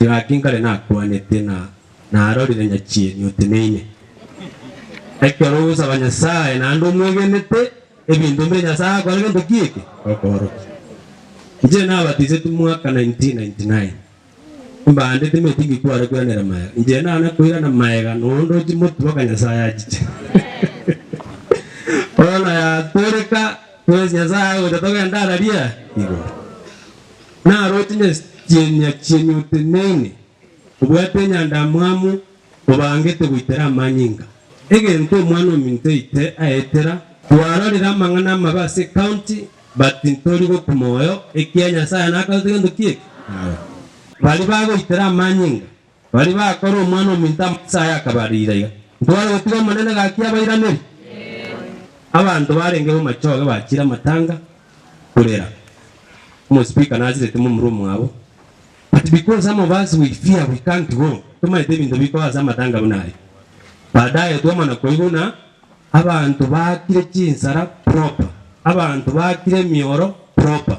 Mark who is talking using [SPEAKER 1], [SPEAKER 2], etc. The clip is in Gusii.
[SPEAKER 1] Gaki nkare nakwanete na narorire nyachieni oteneine. Ekero ogosaba Nyasae naende omwegenete ebinto mbire Nyasae akore gento ki eke? Akoorokia. Inche nabatisetwe mwaka 1999. Mbande timetingi kware koiranera maega. Inche naana koirana maega noonde ochimotwe oka Nyasae achiche. Bono yatoreka, kwesi Nyasae agocha togende ara ria igoro. Naro tinyachienia chienyu oteneine, obwate enyandamwamu, obangete goitera amanyinga, egento omwana ominto oite aetera. Twarorire amang'ana amabe ase ecounty, but tintori gokuma oyo, ekiya Nyasaye nakaruta gento ki'eki naye. Baria bagoitera amanyinga Baria bakora Omwana-o-minto amache aya akaba riira iga, ntibare gotiga Omonene gaki abairaneri? Abanto barenge b'amachoge bachire amatanga korera Omospika nasireti momura omwabo. But because some of us we fear we can't go, tomaete ebinto bikoa ase amatanga buna aya. Baadaye twamana koigwa buna abanto bakire chinsara proper, abanto bakire emioro proper,